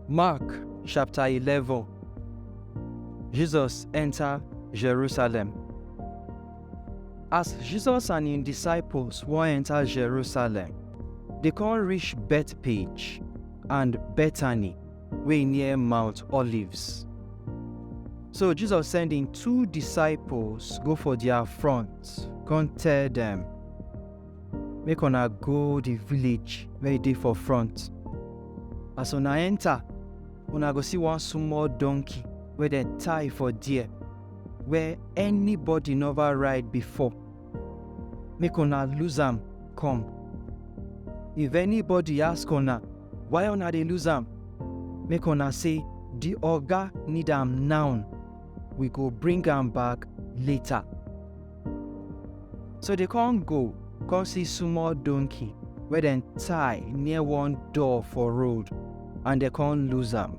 Mark chapter 11 Jesus enter Jerusalem. As Jesus and his disciples wan enter Jerusalem, they come reach Bethpage. and Bethany, wey near Mount Olives. So Jesus send im two disciples go for their front, come tell dem, Make una go the village wey e dey for front. As una enter, una go see one small donkey wey dem tie for there, where anybody never ride before. make una lose am come. If anybody ask una why una dey lose am, make una say the oga need am now, we go bring am back later. So they come go, come see small donkey wey dem tie near one door for road and they come lose am.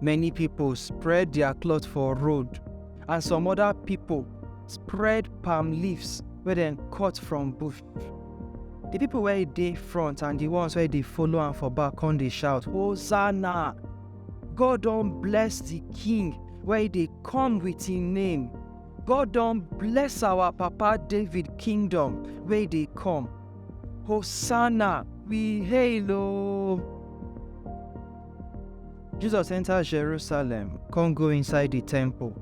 Many people spread their cloth for road, and some other people spread palm leaves wey dem cut from bush. The people wey dey front and the ones wey dey follow am for back come dey shout, Hosanna! God don bless the king wey dey come with him name. God don bless our papa David kingdom wey dey come. Hosanna, we hail o. Jesus enter Jerusalem, come go inside the temple.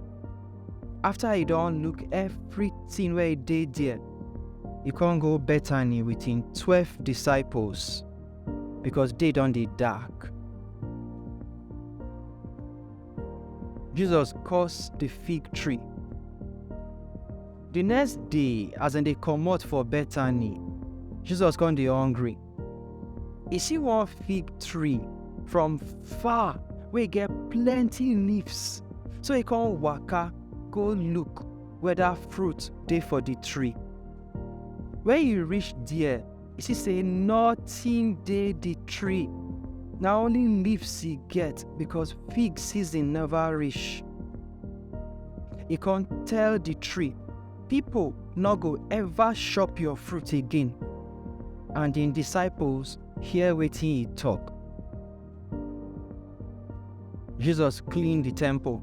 After he don look everything wey dey there, he come go Bethany with him twelve disciples because day don dey dark. Jesus curse the fig tree Di next day, as dem dey comot for Bethany, Jesus come dey hungry. E see one fig tree from far wey get plenty leaves, so e come waka go look whether fruit dey for di tree. Wen e reach there, e see say nothing dey the tree na only leaves e get because fig season never reach e con tell the tree people no go ever chop your fruit again and im disciples hear wetin e talk jesus clean the temple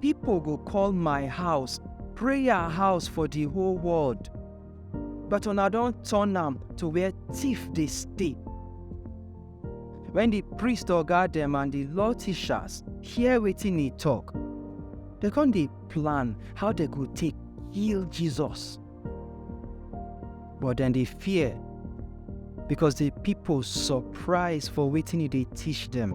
Pipo go call my house prayer house for di whole world, but una don turn am to where tiff dey stay. Wen di priest oga dem and di law teachers hear wetin e tok, dem come dey plan how dem go take kill Jesus. But dem dey fear because di pipo surprise for wetin e dey teach dem.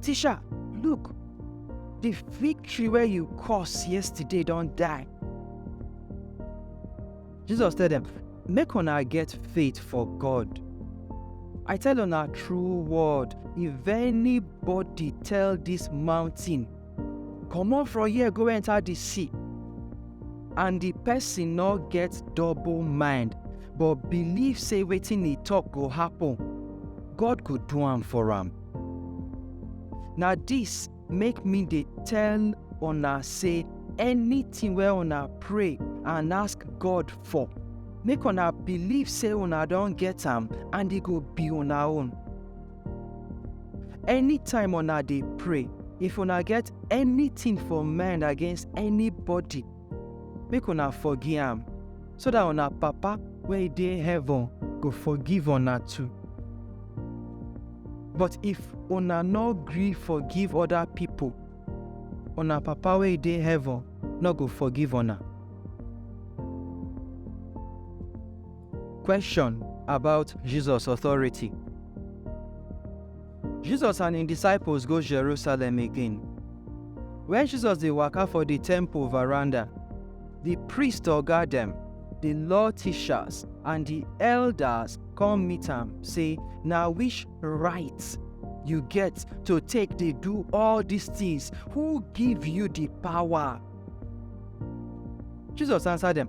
Tisha, look, the victory where you caused yesterday don't die. Jesus tell them, make una get faith for God. I tell on our true word, if anybody tell this mountain, come on from here, go enter the sea, and the person not get double mind, but believe say waiting he talk go happen, God could do am for him. na dis make me dey tell una say anything wey una pray and ask god for make una believe say una don get am and e go be una own anytime una dey pray if una get anything for mind against anybody Make una forgive am, so that una Papa wey dey heaven go forgive una too. But if una no gree forgive other people, una Papa wey dey heaven no go forgive una. Question about Jesus authority. Jesus and im disciples go Jerusalem again. Wen Jesus dey waka for di temple veranda, di priest oga dem, di law teachers, and di elders come meet am say, Na which right you get to take dey do all dis tins? Who give you di power? Jesus answer dem,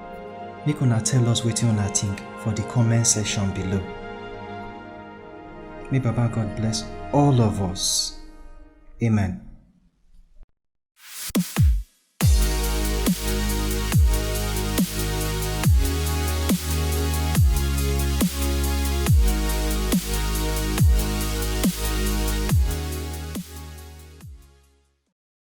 Make una tell us wetin una think for the comment section below. May Baba God bless all of us. Amen.